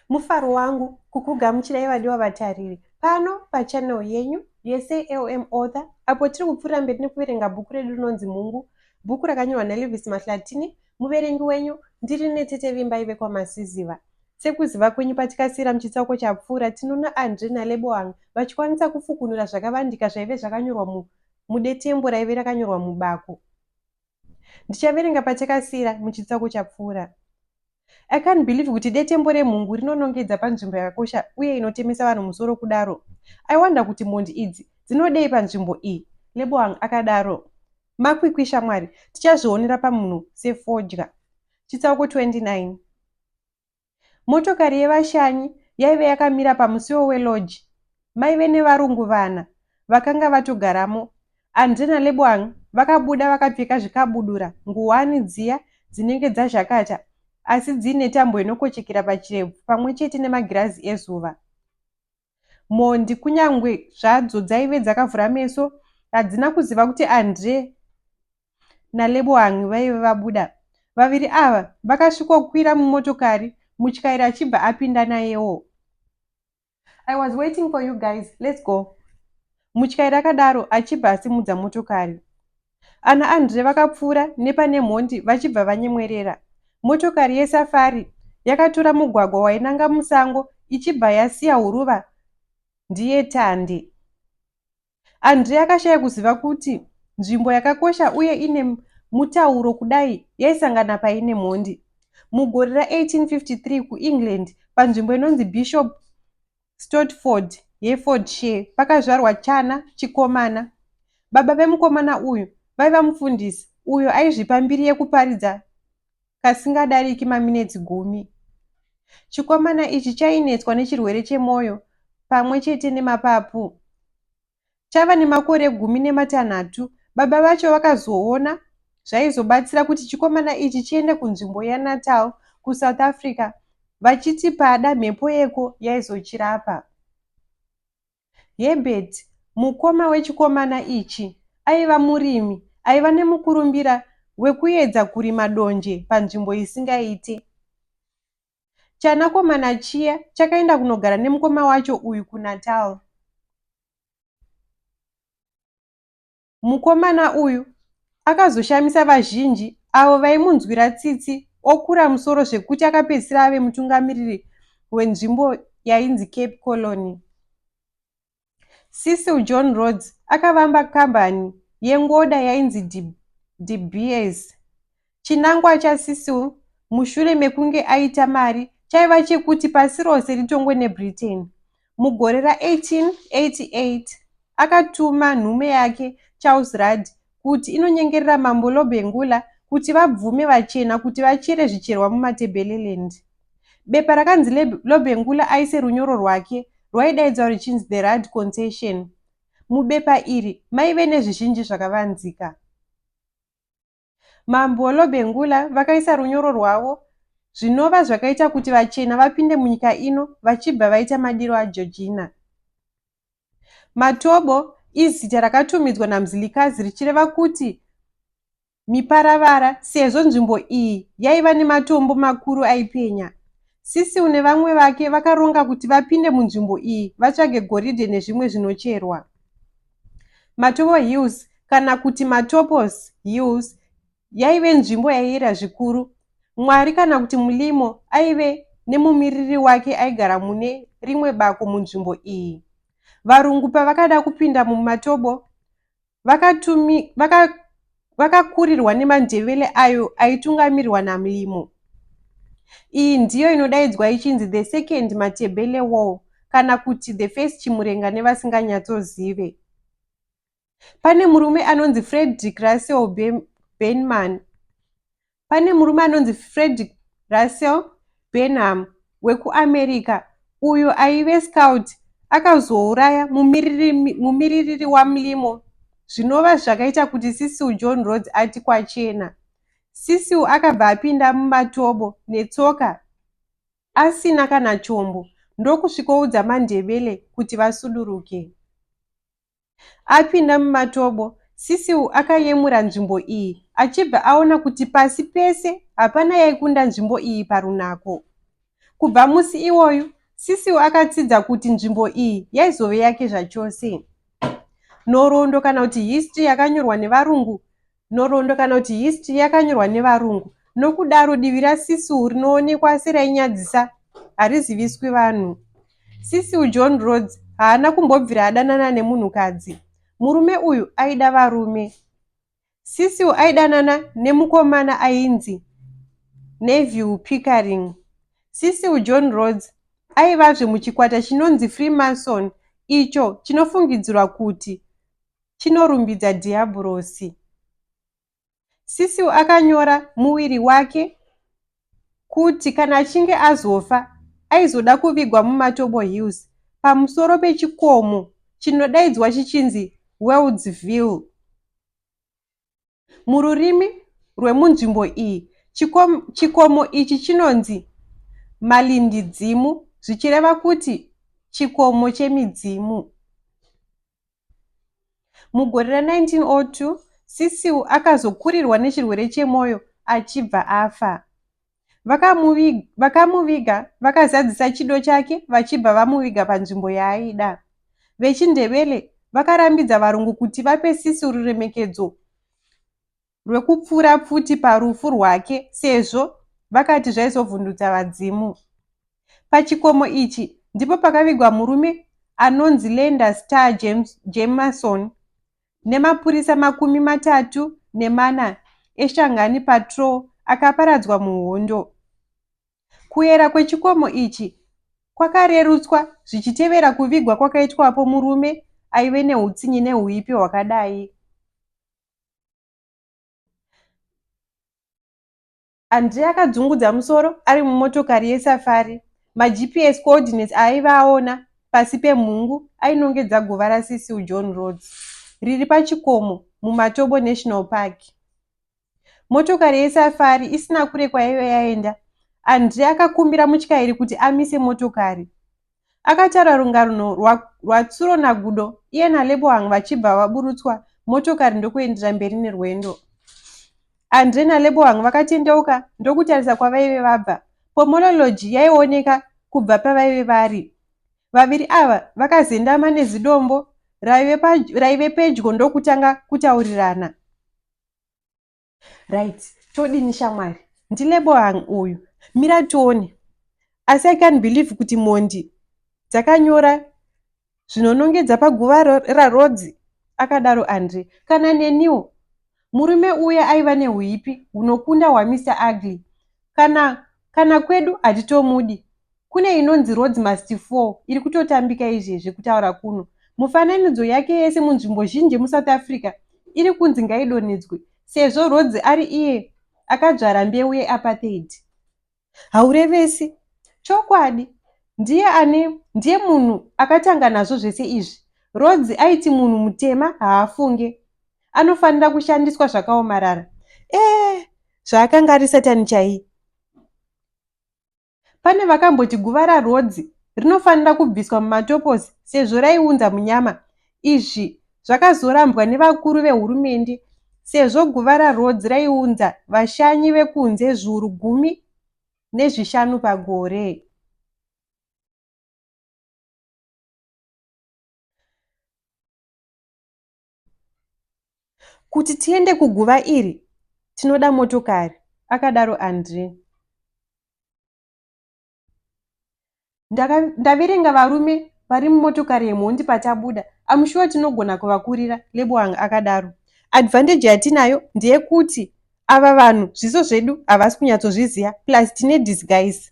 mufaro wangu kukugamuchirai vadiwa vatariri pano pachanel yenyu yesalm author apo tiri kupfuurira mberi nekuverenga bhuku redu rinonzi mhungu bhuku rakanyorwa nalevis mahlatini Muverengi wenyu ndiri netete Vimbai vekwaMasiziva. Sekuziva kwenyu patikasiyira muchitsauko chapfuura, tinoona Andre naLeboang vachikwanisa kufukunura zvakavandika zvaive zvakanyorwa mu mudetembo raive rakanyorwa mubako. Ndichaverenga patakasiyira muchitsauko chapfuura. I can't believe kuti detembo remhungu rinonongedza panzvimbo yakakosha uye inotemesa vanhu musoro kudaro. I wonder kuti mhondi idzi dzinodei panzvimbo iyi, Leboang akadaro. Makwikwi shamwari tichazvionera pamunhu sefodya. Chitsauko 29 Motokari yevashanyi yaive yakamira pamusiwo weloji. Maive nevarungu vana vakanga vatogaramo. Andre naLeboang vakabuda vakapfeka zvikabudura, nguwani dziya dzinenge dzazhakata asi dziine tambo inokochekera pachirebvu pamwe chete nemagirazi ezuva. mhondi kunyangwe zvadzo dzaive dzakavhura meso hadzina kuziva kuti andre naleboang vaive vabuda vaviri ava vakasvikokwira mumotokari mutyairi achibva apinda nayewo i was waiting for you guys let's go mutyairi akadaro achibva asimudza motokari Ana Andre vakapfuura nepane mhondi vachibva vanyemwerera. Motokari yeSafari yakatora mugwagwa wainanga musango ichibva yasiya huruva ndiye Tandi. Andre akashaya kuziva kuti nzvimbo yakakosha uye ine mutauro kudai yaisangana paine mhondi. Mugore ra 1853 kuEngland panzvimbo inonzi Bishop Stortford, Herefordshire, pakazvarwa chana chikomana. Baba vemukomana uyu vaiva mufundisi uyo aizvipa mbiri yekuparidza kasingadariki maminetsi gumi. Chikomana ichi chainetswa nechirwere chemwoyo pamwe chete nemapapu. Tava nemakore gumi nematanhatu, baba vacho vakazoona zvaizobatsira kuti chikomana ichi chiende kunzvimbo yeNatal, kuSouth Africa, vachiti pada mhepo yeko yaizochirapa. Herbert, mukoma wechikomana ichi, aiva murimi aiva nemukurumbira wekuedza kurima donje panzvimbo isingaite. Chanakomana chiya chakaenda kunogara nemukoma wacho uyu kuNatal. Mukomana uyu akazoshamisa vazhinji avo vaimunzwira tsitsi okura musoro zvekuti akapedzisira ave mutungamiriri wenzvimbo yainzi Cape Colony. Cecil John Rhodes akavamba kambani yengoda yainzi De Beers. Chinangwa chaCecil mushure mekunge aita mari chaiva chekuti pasi rose ritongwe neBritain. Mugore ra1888 akatuma nhume yake Charles Rudd kuti inonyengerera Mambo Lobengula kuti vabvume vachena kuti vachere zvicherwa muMatebeleland. Bepa rakanzi Le Lobengula aise runyoro rwake rwaidaidzwa ruchinzi The Rad Concession. Mubepa iri maive nezvizhinji zvakavanzika. Mambo Lobengula vakaisa runyoro rwavo zvinova zvakaita kuti vachena vapinde munyika ino vachibva vaita madiro aJojina. Matobo izita rakatumidzwa naMzilikazi richireva kuti miparavara sezvo nzvimbo iyi yaiva nematombo makuru aipenya. Cecil nevamwe vake vakaronga kuti vapinde munzvimbo iyi vatsvage goridhe nezvimwe zvinocherwa. Matovo Hills kana kuti Matopos Hills yaive nzvimbo yaiyera zvikuru. Mwari kana kuti Mulimo aive nemumiriri wake aigara mune rimwe bako munzvimbo iyi. Varungu pavakada kupinda mumatobo vakakurirwa vaka nemandevele ayo aitungamirwa namlimo iyi ndiyo inodaidzwa ichinzi the second matebele wall kana kuti the first chimurenga nevasinganyatsozive pane murume anonzi frederick russell benman Pane murume anonzi Fredrick Russell Benham wekuAmerica uyo aive scout akazouraya mumiririri waMlimo zvinova zvakaita kuti Cecil John Rhodes ati kwachena. Cecil akabva apinda mumatobo netsoka asina kana chombo ndokusvikoudza maNdebele kuti vasuduruke. Apinda mumatobo, Cecil akayemura nzvimbo iyi achibva aona kuti pasi pese hapana yaikunda nzvimbo iyi parunako. Kubva musi iwoyu, Cecil akatsidza kuti nzvimbo iyi yaizove yake zvachose. Nhoroondo kana kuti history yakanyorwa nevarungu Nhoroondo kana kuti history yakanyorwa nevarungu nokudaro divi raSisiu rinoonekwa serainyadzisa hariziviswi vanhu. Sisiu John Rhodes haana kumbobvira adanana nemunhukadzi. Murume uyu aida varume. Sisiu aidanana nemukomana ainzi Neville Pickering. Sisiu John Rhodes aivazve muchikwata chinonzi Freemason icho chinofungidzirwa kuti chinorumbidza Dhiyabhurosi. Cecil akanyora muwiri wake kuti kana achinge azofa aizoda kuvigwa muMatobo Hills pamusoro pechikomo chinodaidzwa chichinzi Weldsville. Mururimi rwemunzvimbo iyi, chikom, chikomo ichi chinonzi malindidzimu, zvichireva kuti chikomo chemidzimu. Mugore ra1902, Cecil akazokurirwa nechirwere chemwoyo achibva afa. Vakamuviga, vakamuviga vakazadzisa chido chake vachibva vamuviga panzvimbo yaaida. VechiNdebele vakarambidza varungu kuti vape Sisi ruremekedzo rwekupfuura pfuti parufu rwake sezvo vakati zvaizovhundutsa vadzimu. Pachikomo ichi ndipo pakavigwa murume anonzi Lenda Star James, Jameson nemapurisa makumi matatu nemana eShangani Patrol akaparadzwa muhondo. Kuyera kwechikomo ichi kwakarerutswa zvichitevera kuvigwa kwakaitwapo murume aive neutsinye neuipi hwakadai. Andre akadzungudza musoro ari mumotokari yesafari. MaGPS coordinates aaiva aona pasi pemhungu ainongedza guva raCecil John Rhodes, riri pachikomo muMatobo National Park. Motokari yesafari isina kure kwaive yaenda, Andre akakumbira mutyairi kuti amise motokari. Akatara rungarno rwa, rwaTsuro naGudo iye naLebohang vachibva vaburutswa motokari ndokuendera mberi nerwendo. Andre naLebohang vakatendeuka ndokutarisa kwavaive vabva. Pomolo Lodge yaioneka kubva pavaive vari. Vaviri ava vakazendama nezidombo raive, pa, raive pedyo ndokutanga kutaurirana. right todini shamwari ndilebo hang uyu mira tione asi i can believe kuti mhondi dzakanyora zvinonongedza paguva rarodzi akadaro andre kana neniwo murume uya aiva neuipi hunokunda hwamister ugly kana kana kwedu hatitomudi Kune inonzi Roads Must Fall iri kutotambika izvezvi kutaura kuno. Mufananidzo yake yese munzvimbo zhinji muSouth Africa iri kunzi ngaidonhedzwe sezvo Rhodes ari iye akadzvara mbeu yeapartheid. Haurevesi. Chokwadi. Ndiye ane ndiye munhu akatanga nazvo zvese izvi. Rhodes aiti munhu mutema haafunge. Anofanira kushandiswa zvakaomarara. Eh, zvaakanga ari Satani chaiye. Pane vakamboti guva raRhodzi rinofanira kubviswa mumatoposi sezvo raiunza munyama. Izvi zvakazorambwa nevakuru vehurumende sezvo guva raRhodzi raiunza vashanyi vekunze zviuru gumi nezvishanu pagore. Kuti tiende kuguva iri tinoda motokari, akadaro Andre. Ndaka, ndaverenga varume vari mumotokari yemhondi patabuda. I'm sure tinogona kuvakurira, Leboang akadaro. Advantage yatinayo ndeyekuti ava vanhu zviso zvedu havasi kunyatsozviziva plus tine disguise.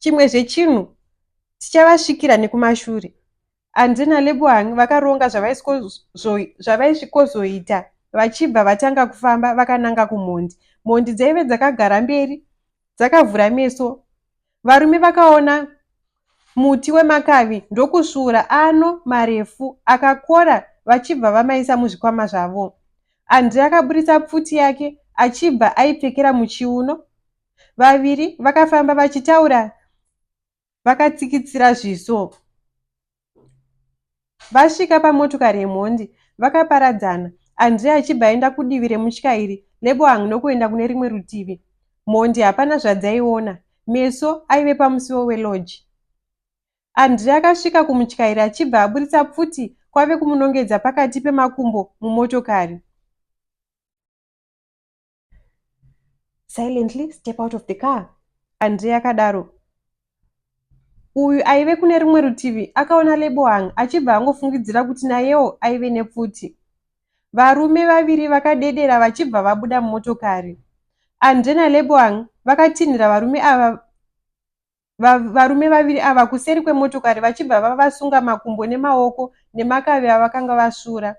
Chimwe zvechinhu tichavasvikira nekumashure. Andy naLebohang vakaronga zvavaisvikozoita vachibva vatanga kufamba vakananga kumhondi. Mhondi dzaive dzakagara mberi dzakavhura meso. Varume vakaona muti wemakavi ndokusvura ano marefu akakora vachibva vamaisa muzvikwama zvavo. Andy akaburitsa pfuti yake achibva aipfekera muchiuno. Vaviri vakafamba vachitaura vakatsikitsira zviso vasvika pamotokari yemhondi vakaparadzana andrea achibva aenda kudivi remutyairi leboang nokuenda kune rimwe rutivi mhondi hapana zvadzaiona meso aive pamusiwo welodge andrea akasvika kumutyairi achibva aburitsa pfuti kwave kumunongedza pakati pemakumbo mumotokari silently step out of the car andrei akadaro uyu aive kune rimwe rutivi akaona lebohang achibva angofungidzira kuti nayewo aive nepfuti varume vaviri vakadedera vachibva vabuda mumotokari andre naleboang vakatinhira varume ava varume vaviri ava kuseri kwemotokari vachibva vavasunga makumbo nemaoko nemakavi avakanga vasvura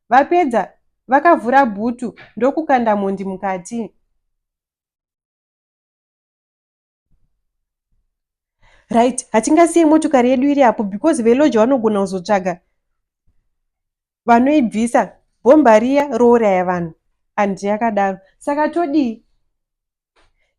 vapedza vakavhura bhutu ndokukanda mhondi mukati right hatingasiye motokari yedu iri apo because veloja vanogona kuzotsvaga vanoibvisa bhomba riya rouraya vanhu and yakadaro saka todii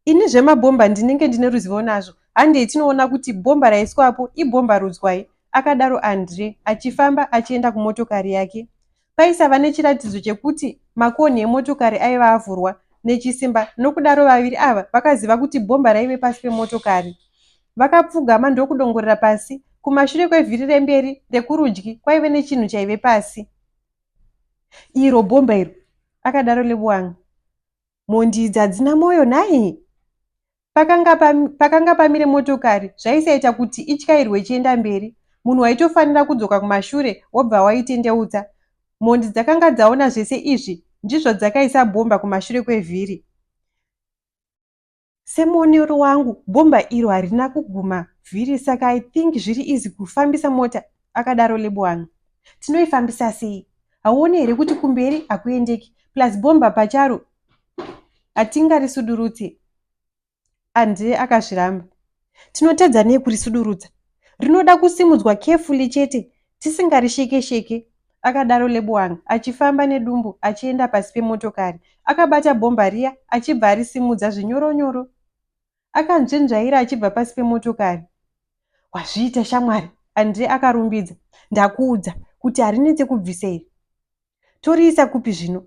ini zvemabhomba ndinenge ndine ruzivo nazvo handei tinoona kuti bhomba raiswapo ibhomba rudzwai akadaro andre achifamba achienda kumotokari yake paisava nechiratidzo chekuti makonhi emotokari aiva avhurwa nechisimba nokudaro vaviri ava vakaziva kuti bhomba raive pasi pemotokari Vakapfugama ndokudongorera pasi. Kumashure kwevhiri remberi rekurudyi kwaive nechinhu chaive pasi. Iro bhomba iro, akadaro Lebuang. Mhondi idzi hadzina mwoyo nhai? Pakanga, pam, pakanga pamire motokari zvaisaita kuti ityairwe ichienda mberi. Munhu waitofanira kudzoka kumashure wobva waitendeutsa. Mhondi dzakanga dzaona zvese izvi ndizvo dzakaisa bhomba kumashure kwevhiri. Semuonero wangu bhomba iro harina kuguma vhiri saka I think zviri easy kufambisa mota, akadaro Leboang. Tinoifambisa sei? Hauone here kuti kumberi hakuendeki plus bhomba pacharo hatingarisudurutse. Andre akazviramba. Tinotadza nei kurisudurudza? Rinoda kusimudzwa carefully chete tisingarisheke sheke, akadaro Leboang achifamba nedumbu achienda pasi pemotokari. Akabata bhomba riya achibva arisimudza zvinyoro nyoro. Akanzvenzvaira achibva pasi pemotokari. Wazviita shamwari, Andre akarumbidza. Ndakuudza kuti harinetse kubvisa iri. Toriisa kupi zvino?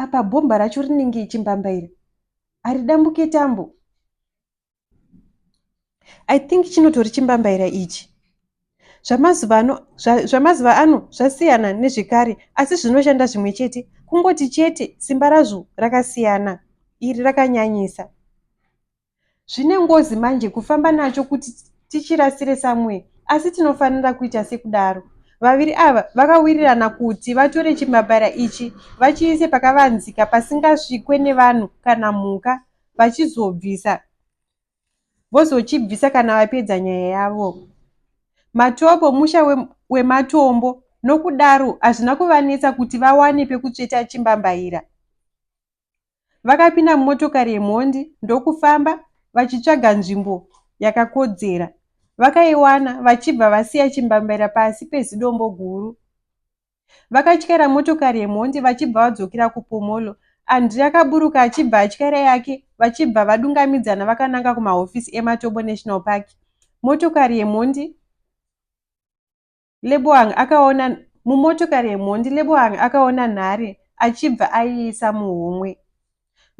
apa bhomba racho rinenge ichimbamba iri haridambuke tambo i think chinotori chimbambaira ichi zvamazuva ano zvasiyana nezvekare asi zvinoshanda zvimwe chete kungoti chete simba razvo rakasiyana iri rakanyanyisa Zvine ngozi manje kufamba nacho kuti tichirasire somewhere asi tinofanira kuita sekudaro. Vaviri ava vakawirirana kuti vatore chimabara ichi vachiise pakavanzika pasingasvikwe nevanhu kana mhuka vachizobvisa vozochibvisa kana vapedza nyaya yavo. Matobo musha we, wematombo nokudaro hazvina kuvanetsa kuti vawane pekutsveta chimbambaira. Vakapinda mumotokari yemhondi ndokufamba vachitsvaga nzvimbo yakakodzera. Vakaiwana vachibva vasiya chimbambaira pasi pezidombo guru. Vakatyaira motokari yemhondi vachibva vadzokera kupomolo. Andri akaburuka achibva atyaira yake vachibva vadungamidzana vakananga kumahofisi eMatobo National Park. Motokari yemhondi Leboang akaona Mumotokari yemhondi Leboang akaona nhare achibva aiisa muhomwe.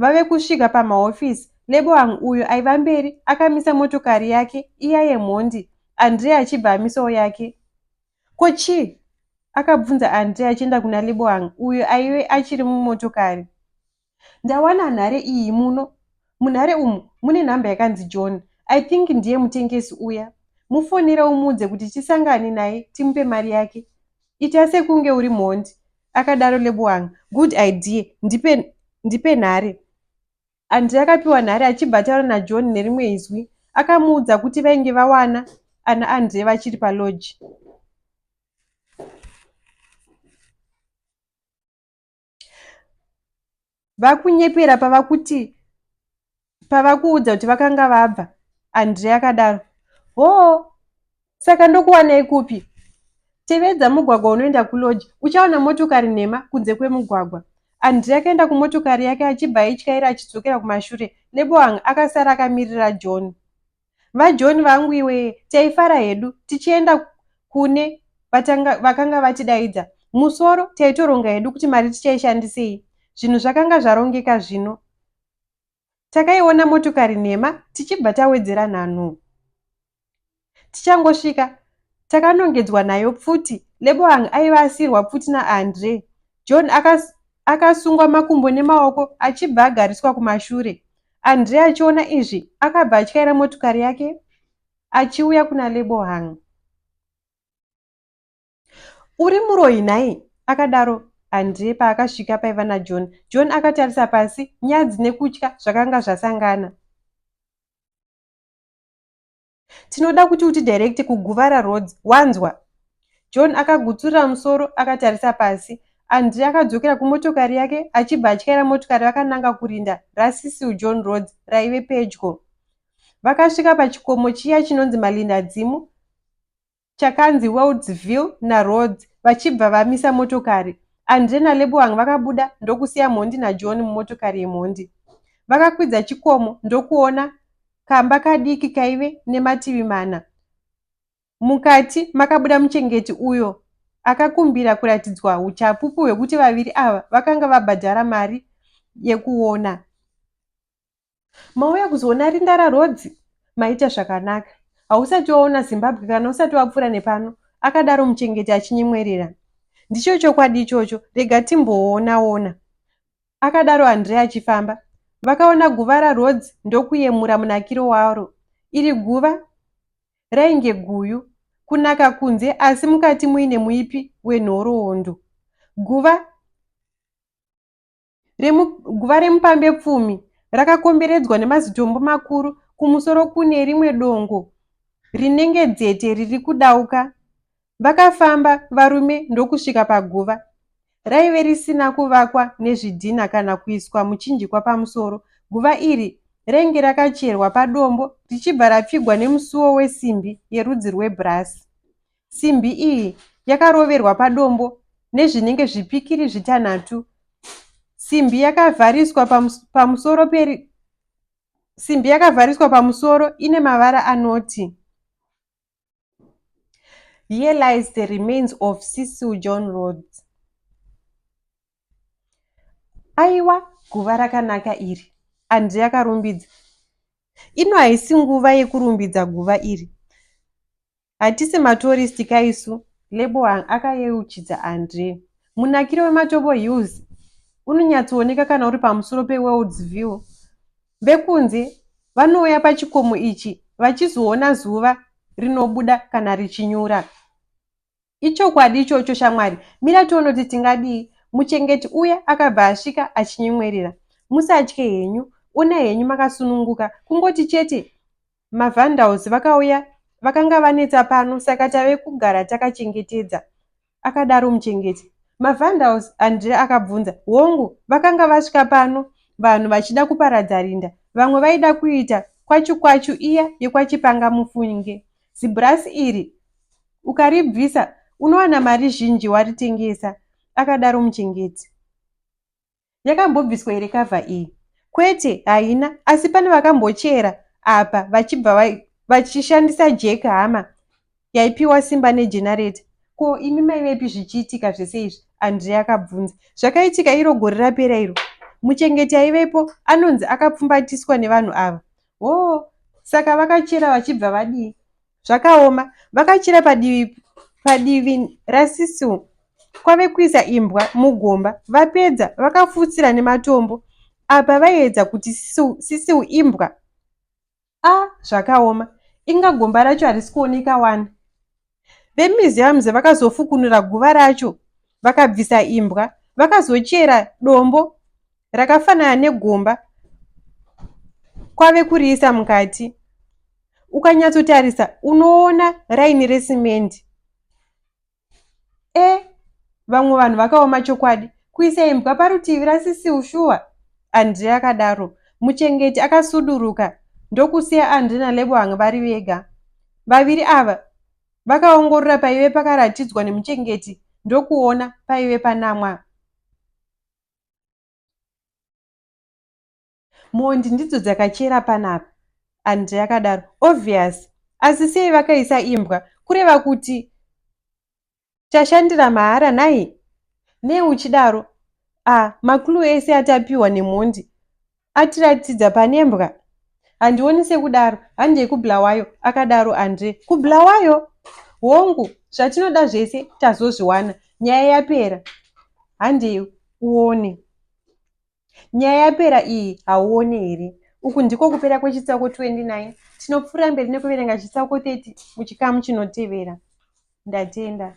Vave kusvika pamahofisi, Leboang uyo aiva mberi akamisa motokari yake iya yemhondi Andrea achibva amisawo yake. Ko chii? akabvunza Andrea achienda kuna Leboang uyo aive achiri mumotokari. Ndawana nhare iyi muno. Munhare umu mune nhamba yakanzi John. I think ndiye mutengesi uya. Mufonere umuudze kuti tisangane naye timupe mari yake. Ita sekunge uri mhondi, akadaro Leboang. Good idea. Ndipe, ndipe nhare. Andre akapiwa nhare achibva ataura naJohn nerimwe izwi. Akamuudza kuti vainge vawana ana Andre vachiri palodge. vakunyepera pavakuti pavakuudza kuti vakanga vabva andrea akadaro hoo saka ndokuwanei kupi tevedza mugwagwa unoenda kuloji uchaona motokari nhema kunze kwemugwagwa andrea akaenda kumotokari yake achibva aityaira achidzokera kumashure neboang akasara akamirira john VaJohn vangu iwee taifara hedu tichienda kune vatanga, vakanga vatidaidza. Musoro taitoronga hedu kuti mari tichaishandisei. Zvinhu zvakanga zvarongeka zvino. Takaiona motokari nhema tichibva tawedzera nhanho. Tichangosvika takanongedzwa nayo pfuti. Leboang aiva asiyirwa pfuti naAndre. John akas, akasungwa makumbo nemaoko achibva agariswa kumashure. Andre achiona izvi akabva atyaira motikari yake achiuya kuna Lebohang. Uri muroyi nhai? akadaro Andre paakasvika paiva naJohn. John akatarisa pasi, nyadzi nekutya zvakanga zvasangana. Tinoda kuti utidirecte kuGuvara Roads, wanzwa? John akagutsurira musoro akatarisa pasi. Andrey akadzokera kumotokari yake achibva atyaira motokari vakananga kurinda raCecil John Roads raive pedyo. Vakasvika pachikomo chiya chinonzi Malindadzimu. chakanzi Weldsville naRhodes vachibva vamisa motokari. Andre naLeboang vakabuda ndokusiya mhondi naJohn mumotokari yemhondi. Vakakwidza chikomo ndokuona kamba kadiki kaive nemativi mana. Mukati makabuda muchengeti uyo akakumbira kuratidzwa uchapupu hwekuti vaviri ava vakanga vabhadhara mari yekuona. mauya kuzoona rinda raRodzi maita zvakanaka hausati waona zimbabwe kana usati wapfuura nepano akadaro muchengeti achinyemwerera ndicho chokwadi ichocho rega timboonaona akadaro andrea achifamba vakaona guva raRodzi ndokuyemura munakiro waro iri guva rainge guyu kunaka kunze asi mukati muine muipi wenhoroondo guva Guva remupambepfumi rakakomberedzwa nemazitombo makuru, kumusoro kune rimwe dongo rinenge dzete riri kudauka. Vakafamba varume ndokusvika paguva. Raive risina kuvakwa nezvidhina kana kuiswa muchinjikwa pamusoro. Guva iri rainge rakacherwa padombo richibva rapfigwa nemusuwo wesimbi yerudzi rwebhurasi. Simbi iyi yakaroverwa padombo nezvinenge zvipikiri zvitanhatu. Simbi yakavhariswa pamusoro peri simbi yakavhariswa pamusoro ine mavara anoti Here lies the remains of Cecil John Rhodes. Aiwa guva rakanaka iri, Andre yakarumbidza. Ino haisi nguva yekurumbidza guva iri. Hatisi matourist ka isu, Leboang akayeuchidza Andre. Munakiro weMatobo Hills unonyatsooneka kana uri pamusoro peWorld's View. Vekunze vanouya pachikomo ichi vachizoona zuva rinobuda kana richinyura. Ichokwadi ichocho shamwari, mira tione kuti tingadii. Muchengeti uya akabva asvika achinyemwerera. Musatye henyu, ona henyu makasununguka, kungoti chete Mavandals vakauya vakanga vanetsa pano saka tave kugara takachengetedza, akadaro muchengeti. Mavandals? Andrea akabvunza. Hongu, vakanga vasvika pano vanhu vachida kuparadza rinda. Vamwe vaida kuita kwachu kwachu iya yekwachipanga mufunge. Zibhurasi iri ukaribvisa unowana mari zhinji waritengesa, akadaro muchengeti. Yakambobviswa here cover iyi? Kwete, haina, asi pane vakambochera apa vachibva vai vachishandisa jack hama yaipiwa simba negenareta ko imi maivepi zvichiitika zvese izvi andrea akabvunza zvakaitika iro gore rapera iro muchengeti aivepo anonzi akapfumbatiswa nevanhu ava hoo saka vakachera vachibva vadii Zvakaoma. Vakachira padivi padivi rasisi umu kwave kuisa imbwa mugomba. Vapedza vakafutsira nematombo apa vaiedza kuti sisiu imbwa. A zvakaoma. Inga gomba racho harisi kuoneka wani. Vemuseums vakazofukunura guva racho vakabvisa imbwa. Vakazochera dombo rakafanana negomba kwave kuriisa mukati ukanyatsotarisa unoona raini resimendi e vamwe vanhu vakaoma chokwadi kuisa imbwa parutivi rasisi ushuwa andre akadaro muchengeti akasuduruka ndokusiya andre nalebohang vari vega vaviri ava vakaongorora paive pakaratidzwa nemuchengeti ndokuona paive panamwa mhondi ndidzo dzakachera panapa andre akadaro obvious asi sei vakaisa imbwa kureva kuti tashandira mahara nhai nei uchidaro a ah, maklue ese atapiwa nemhondi Atiratidza pane mbwa. Handioni sekudaro. Handei kuBulawayo, akadaro Andre. KuBulawayo? Hongu, zvatinoda zvese tazozviwana. Nyaya yapera. Handei uone. Nyaya yapera iyi hauone here? Uku ndiko kupera kwechitsauko 29. Tinopfuura mberi nekuverenga chitsauko 30 muchikamu chinotevera. Ndatenda.